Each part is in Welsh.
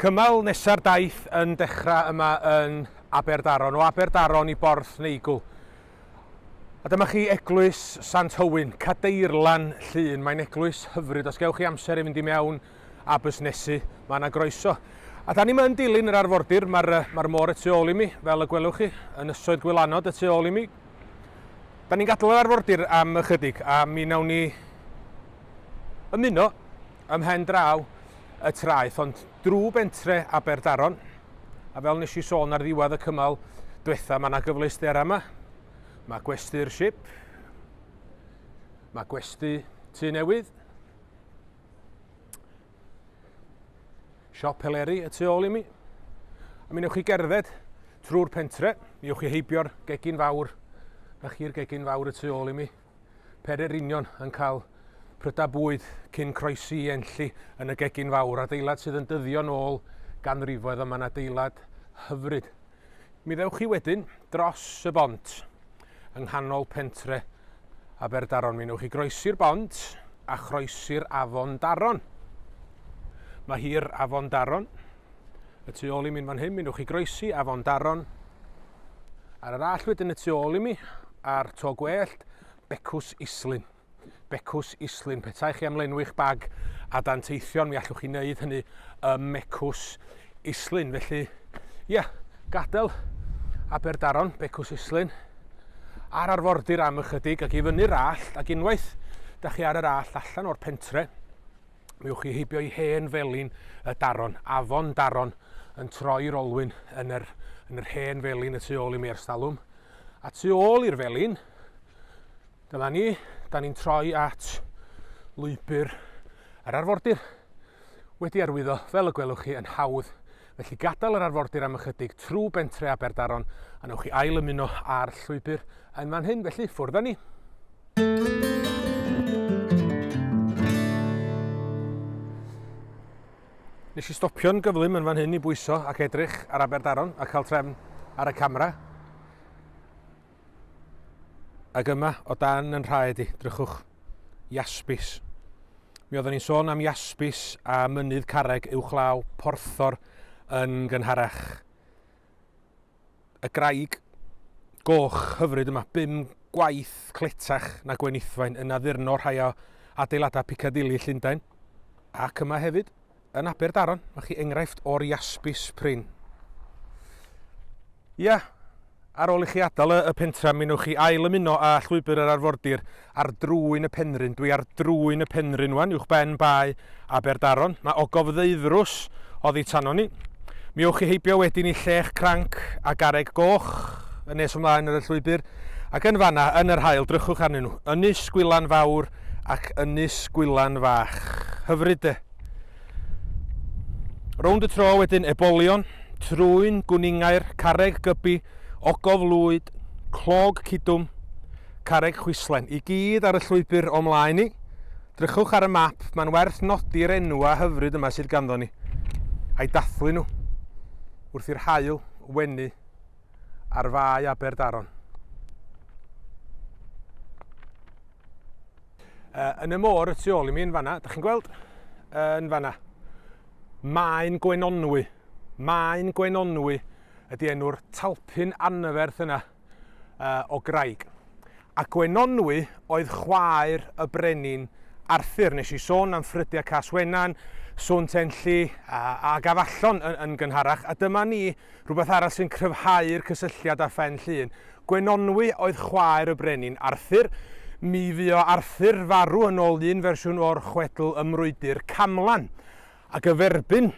Cymal nesa'r daith yn dechrau yma yn Aberdaron, o Aberdaron i Borth Neigwl. A dyma chi eglwys Sant Hywyn, Cadeirlan Llŷn. Mae'n eglwys hyfryd. Os gewch chi amser i fynd i mewn a busnesu, mae yna groeso. A da ni yma yn dilyn yr arfordir, mae'r mae môr y tu ôl i mi, fel y gwelwch chi, yn ysoedd gwylanod y tu ôl i mi. Da ni'n gadael yr arfordir am ychydig a mi nawn ni ymuno Ym mhen draw y traeth ond drw bentre Aberdaron a fel nes i sôn ar ddiwedd y cymal dwetha ma' 'na gyfleusder yma. Mae gwesty'r ship. Mae gwesty tu newydd. Siop Heleri y tu ôl i mi. A mi newch chi gerdded trwy'r pentre, mi ewch chi heibio'r gegin fawr, na chi'r gegin fawr y tu ôl i mi. Peryr Union yn cael prydau bwyd cyn croesi i Enlli yn y gegin fawr, adeilad sydd yn dyddio'n ôl ganrifoedd a mae'n adeilad hyfryd. Mi ddewch chi wedyn dros y bont yng nghanol pentre Aberdaron. Mi wnewch chi groesi'r bont a chroesi'r afon Daron. Mae hi'r afon Daron Y tu ôl i mi yn fan hyn, mi newch chi groesi afon Daron. Ar yr all wedyn y tu ôl i mi, a'r to gwellt, becws islyn. Becws islyn, petai chi am lenwi'ch bag a dan teithion, mi allwch chi wneud hynny y mecws islyn. Felly, ie, yeah, gadael Aberdaron, becws islyn, ar arfordir am ychydig ac i fyny'r all, ac unwaith da chi ar yr all allan o'r pentre, Mi ewch chi heibio i hen felin y daron, afon daron, yn troi'r olwyn yn yr, yn yr hen felin y tu ôl i mi erstalwm. A tu ôl i'r felin, dyma ni, da ni'n troi at lwybr yr arfordir wedi arwyddo, fel y gwelwch chi, yn hawdd Felly gadael yr arfordir am ychydig trw bentre Aberdaron a newch chi ail ymuno â'r llwybr yn fan hyn, felly ffwrdd â ni. Nes i stopio'n gyflym yn fan hyn i bwyso ac edrych ar Aberdaron a cael trefn ar y camera. Ac yma, o dan yn rhaed i, drychwch. Jaspis. Mi oeddwn i'n sôn am jaspis a mynydd carreg uwchlaw porthor yn gynharach. Y graig goch hyfryd yma, bum gwaith cletach na gwenithfaen yn addurno rhai o adeiladau Piccadilly Llundain, ac yma hefyd. Yn Aberdaron, mae chi enghraifft o'r jaspis prin. Ia, ar ôl i chi adael y, y pentra, mi newch chi ail ymuno â llwybr yr arfordir ar drwyn y penrhyn. Dwi ar drwyn y penrhyn wan, uwch ben bae Aberdaron. Mae ogof ddeuddrws oddi tano ni. Mi ewch chi heibio wedyn i llech cranc a gareg goch yn nes ymlaen ar y llwybr, ac yn fanna, yn yr hael, drychwch arnyn nhw. Ynys Gwylan Fawr, ac Ynys Gwylan Fach. Hyfryd de! Rownd y tro wedyn ebolion, trwyn, gwningair, carreg gybi, ogof lwyd, clog cudwm, carreg chwislen, i gyd ar y llwybr o mlaen ni. Drychwch ar y map, mae'n werth nodi'r enwa hyfryd yma sydd ganddo ni, a'i dathlu nhw, wrth i'r haul wenu ar fae Aberdaron. Uh, yn y môr y tu ôl i mi yn fanna, da chi'n gweld? Uh, yn fanna. Mae'n Gwenonwy. Mae'n Gwenonwy ydy enw'r talpyn anferth yna uh, o graig. A Gwenonwy oedd chwaer y brenin Arthur. Nes i sôn am ffrydiau Cas Wenan, sôn tenllu a, a gafallon yn, yn gynharach. A dyma ni Rhywbeth arall sy'n cryfhau'r cysylltiad â Phen Llŷn, Gwenonwy oedd chwaer y brenin Arthur. Mi fuo Arthur farw yn ôl un fersiwn o'r chwedl ym Mrwydr Camlan. Ac y ferbyn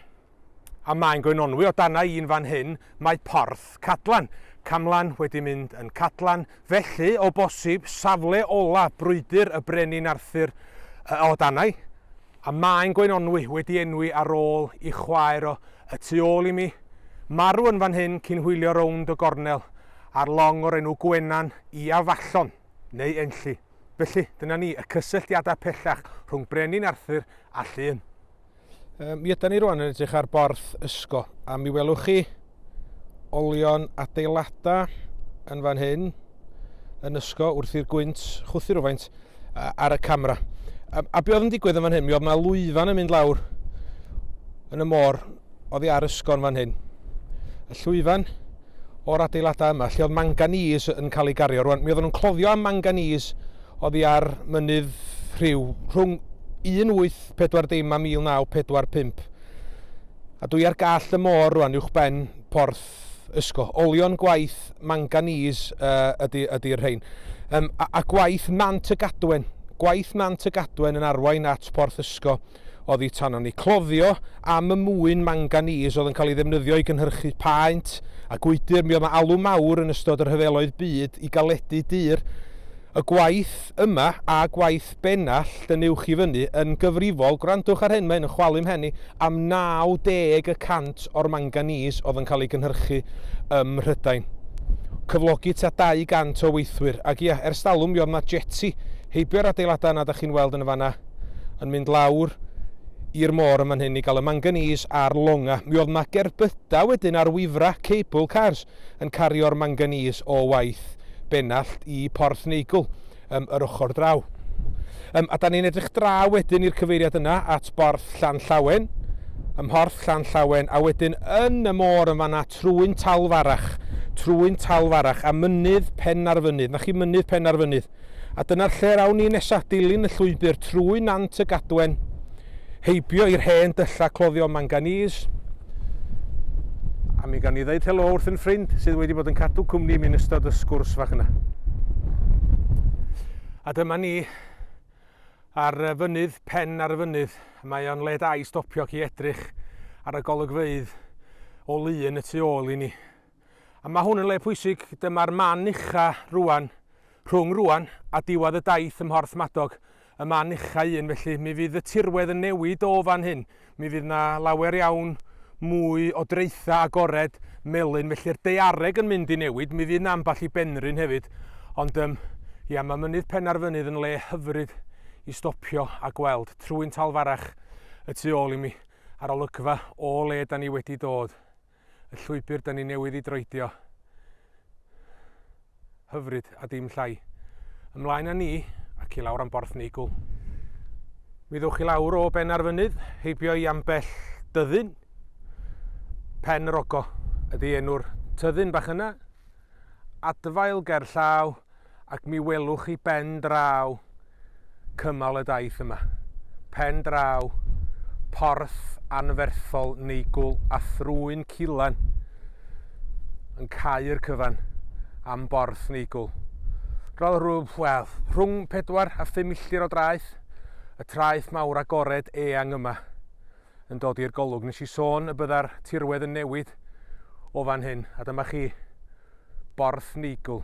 a mae'n Gwenonwy o dana i'n fan hyn, mae Porth Cadlan. Camlan wedi mynd yn Cadlan, felly, o bosib, safle ola brwydr y brenin Arthur o danai. A mae'n gweinonwy wedi enwi ar ôl i chwaer o y tu ôl i mi, marw yn fan hyn cyn hwylio rownd y gornel ar long o'r enw Gwenan i Afallon, neu Enlli. Felly, dyna ni, y cysylltiadau pellach rhwng Brenin Arthur a Llŷn. Mi ydan ni rwan yn edrych ar Borth Ysgo, a mi welwch chi, olion adeiladau yn fan hyn, yn ysgo wrth i'r gwynt chwthu rhywfaint ar y camera. A, a be oedd yn digwydd yn fan hyn? Mi oedd yna lwyfan yn mynd lawr yn y môr oddi ar ysgon fan hyn. Y llwyfan o'r adeiladau yma, lle oedd manganese yn cael ei gario. Rwan, mi oedden nhw'n cloddio am manganese oddi ar mynydd rhyw rhwng 1840 a 1945. A dwi ar gall y môr rwan uwchben porth ysgo. Olion gwaith manganese uh, ydy, ydy'r rhain. Um, a, a gwaith nant y gadwen. Gwaith nant y gadwen yn arwain at porth ysgo oddi tanon ni. Cloddio am y mwyn manganese oedd yn cael ei ddefnyddio i gynhyrchu paent a gwydr. Mi oedd yna alw mawr yn ystod yr rhyfeloedd byd i galedu dur. Y gwaith yma a gwaith Bennallt yn uwch i fyny yn gyfrifol, gwrandwch ar hyn, mae hyn yn chwalu 'mhen i, am 90 y cant o'r manganese oedd yn cael ei gynhyrchu ym Mhrydain. Cyflogi tua 200 o weithwyr. Ac ia, ers talwm mi oedd 'na jeti heibio'r adeiladau yna dach chi'n weld yn y fan 'na yn mynd lawr i'r môr yn fan hyn i gael y manganese a'r longa. Mi oedd 'na gerbydau wedyn ar wifra, cable cars, yn cario'r manganese o waith Bennallt i Porthneigwl. um, yr ochr draw. Um, a da ni'n edrych draw wedyn i'r cyfeiriad yna at borth Llan Llawen, ym mhorth Llan Llawen, a wedyn yn y môr yn fanna trwy'n talfarach, trwy'n talfarach, a mynydd pen ar fynydd, na chi mynydd pen ar fynydd. A dyna'r lle rawn ni nesaf, dilyn y llwybr trwy Nant y Gadwen, Heibio i'r hen dyllau cloddio manganese. A mi gawn ni ddeud helo wrth yn ffrind sydd wedi bod yn cadw cwmni i mi yn ystod y sgwrs fach yna. A dyma ni ar y fynydd, pen ar y fynydd. Mae o'n le da i stopio ac i edrych ar y golygfeydd o lu yn y tu ôl i ni. A mae hwn yn le pwysig, dyma'r man ucha rŵan, rhwng rŵan a diwadd y daith ym Mhorth Madog, y man ucha un, felly mi fydd y tirwedd yn newid o fan hyn, mi fydd na lawer iawn mwy o draetha agored melyn, felly'r daeareg yn mynd i newid, mi fydd na ambell i benrhyn hefyd, ond yym, ia, mae mynydd Penarfynydd yn le hyfryd i stopio a gweld, trwy'n talfarach y tu ôl i mi, a'r olygfa o le da ni wedi dod. y llwybr da ni newydd i droedio. Hyfryd a dim llai. Ymlaen â ni ac i lawr am borth neigwl. Mi ddwch i lawr o ben ar fynydd, heibio i ambell dyddyn. Pen yr Ogo ydy enw'r tyddyn bach yna. Adfail ger llaw, Ac mi welwch chi ben draw cymal y daith yma, pen draw porth anferthol neigwl a thrwyn culan yn cau'r cyfan am borth neigwl. Roedd rhyw, wel, rhwng pedwar a phum milltir o draeth, y traeth mawr agored eang yma. yn dod i'r golwg. Nes i sôn y bydda'r tirwedd yn newid o fan hyn, a dyma chi Borth Neigl.